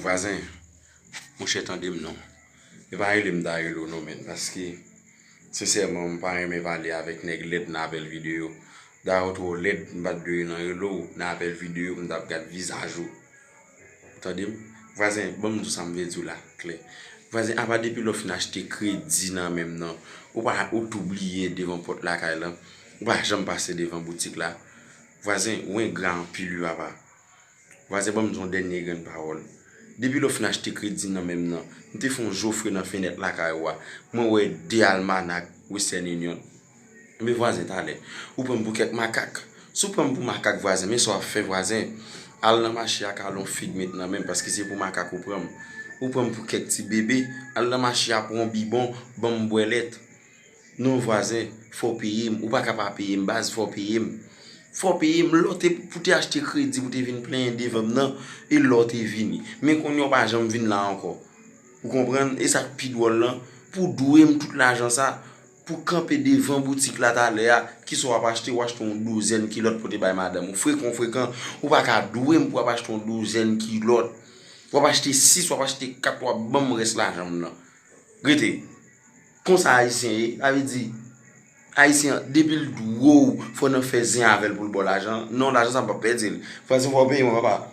Vwazen, monchè tande m non. E pa rele m Darilo non menn paske sensèman m pa renmen pale avèk nèg lèd nan apèl videyo. Dayè ou twò lèd m pa t dwe nan rele w nan apèl videyo pou m t ap gad vizaj ou. Ou tande m? Vwazen, ban m di w sa m vle di w la klè. Vwazen, apa depi lè ou fin achte kredi nan men m nan, ou pa, ou tou bliye devan pòt lakay lan. Ou pa janm pase devan boutik la. Vwazen, ou engra anpil wi papa. Vwazen banm di yon dènye grenn pawòl. Depi lè w fin achte kredi nan men m nan, m te fè yon jofre nan fenèt lakay ou a, mwen wè 2 almanak Western Union. Enben vwazen talè, ou pran m pou kèk makak. Si w pran m pou makak vwazen, men sa w ap fè vwazen, al nan mache a kale yon fig met nan men m paske se pou makak ou pran m. Ou pran m pou kèk ti bebe, al nan mache a pran yon bibon banm bwè lèt. Non vwazen fò peyim ou paka pa peyim baz fò peyim fò peyim lè pou te achte kredi pou te vin plenyen devanm nan e lè ou te vini men kounye ou pa janm vin la ankò ou konprann e sa ki pi dwòl lan pou dwe m tout lajan sa pou kanpe devan boutik la talè a ki sa w ap achte ou achte yon douzèn kilòt pou te bay madanm ou frekan ou frekan ou paka dwe m pou w ap achte yon douzèn kilòt w ap achte 6 w ap achte 4 w ap ban m rès lajan m nan rete. Konsa ayisyen ye sa vle di ayisyen an depil dwe w fò nan fè zen avèl poul baw lajan non lajan sa mpap pèdil fwa sa fwa w peye mwen papa.